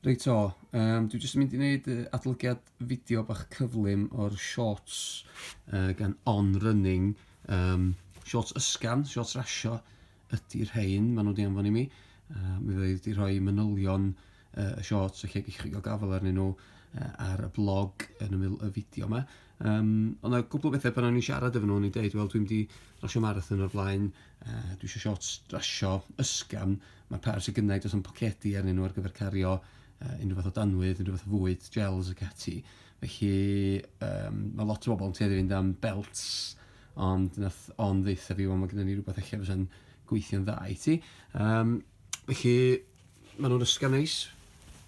Reit o, um, dwi jyst yn mynd i wneud adolygiad fideo bach cyflym o'r shorts uh, gan On Running. Um, shorts ysgan, shorts rasio ydy'r rhain, maen nhw wedi anfon i mi. Uh, mi ddweud wedi rhoi manylion uh, y shorts, felly gych chi gael gafel arnyn nhw uh, ar y blog yn ymwyl y fideo yma. Yym, oedd 'na gwpl o bethe pan o'n i'n siarad efo nhw o'n i'n deud wel dwi'm 'di rasio marathon o'r blaen yy dwi isio siorts rasio ysgafn, ma' pairs sy gynna i does na'm pocedi arnyn nhw ar gyfer cario yy unrhyw fath o danwydd, unrhyw fath o fwyd, gels ac ati. Felly yym ma' lot o bobl yn tueddu i fynd am belts ond wnaeth Ann ddeutha fi wel ma' gynnon ni rywbeth ella fysa'n gweithio'n dda i ti. Yym felly... Maen nhw'n ysgaf neis,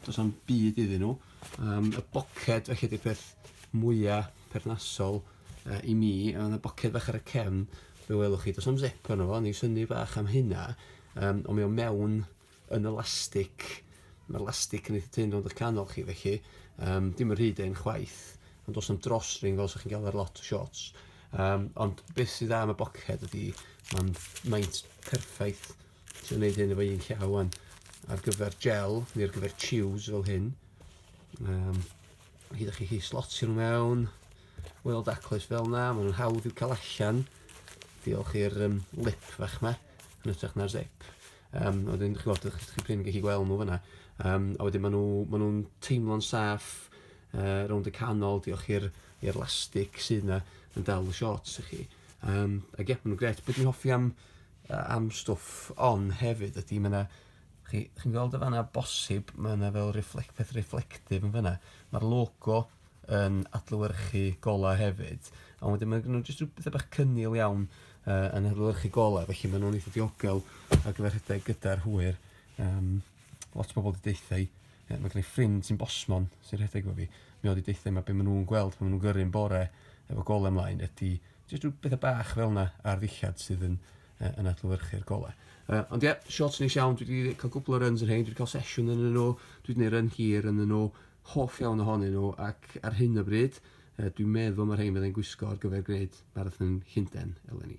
does am byd iddyn nhw. Um, y boced, felly, ydy'r peth mwyaf perthnasol uh, i mi. Ond y boced fach ar y cefn, fe welwch chi, does am zip arno fo, ni syni bach am hynna. Um, ond mae o mewn yn elastig. Mae'r elastig yn eitha tyn rownd o'ch canol chi, felly um, dim yn rhyd ein chwaith. Ond does am drosring fel sy'ch chi'n gael ar lot o shorts. Um, ond beth sydd am y boced ydy, mae'n maint perffaith Dwi'n neud hyn efo un llaw wan. Ar gyfer gel, neu ar gyfer chews fel hyn. Um, hyd chi chi slotio nhw mewn. Weld aclus fel na, maen nhw'n hawdd i'w cael allan. Diolch i'r um, lip fach ma, yn ytrach na'r zip. Um, a wedyn, chi'n gwybod, chi'n prin gallu gweld nhw fyna. Um, a wedyn, maen nhw'n nhw, nhw teimlo'n saff uh, rownd y canol, diolch i'r elastig sydd yna yn dal y shorts i chi. Um, ac ie, maen nhw'n gret. Beth dwi'n hoffi am am stwff on hefyd ydy ma' 'na chi chi'n gweld y fanna bosib ma' 'na fel reflect- peth reflective yn fanna ma'r logo yn adlewyrchu gola' hefyd a wedyn ma' gynno nw jyst ryw petha bach cynnil iawn yy yn adlewyrchu gola' felly ma' nw'n eitha diogel ar gyfer rhedeg gyda'r hwyr yym lot o bobol 'di deutha i yy ma' gynna i ffrind sy'n bosmon sy'n rhedeg efo fi mae o 'di deutha i ma' be' ma' nw'n gweld pan ma' nw'n gyrru'n bore efo gole mlaen ydi Jyst rhyw betha bach fel 'na ar ddillad sydd yn yy yn adlewyrchu'r golau. Yy ond ie, shorts neis iawn, dwi 'di ca'l gwpwl o runs yn rhein, dwi 'di ca'l sesiwn ynnyn nw, dwi 'di neud run hir ynnyn nw, hoff iawn ohonyn nw ac ar hyn o bryd yy dwi'n meddwl ma' rhein fyddai'n gwisgo ar gyfer gneud marathon Llunden eleni.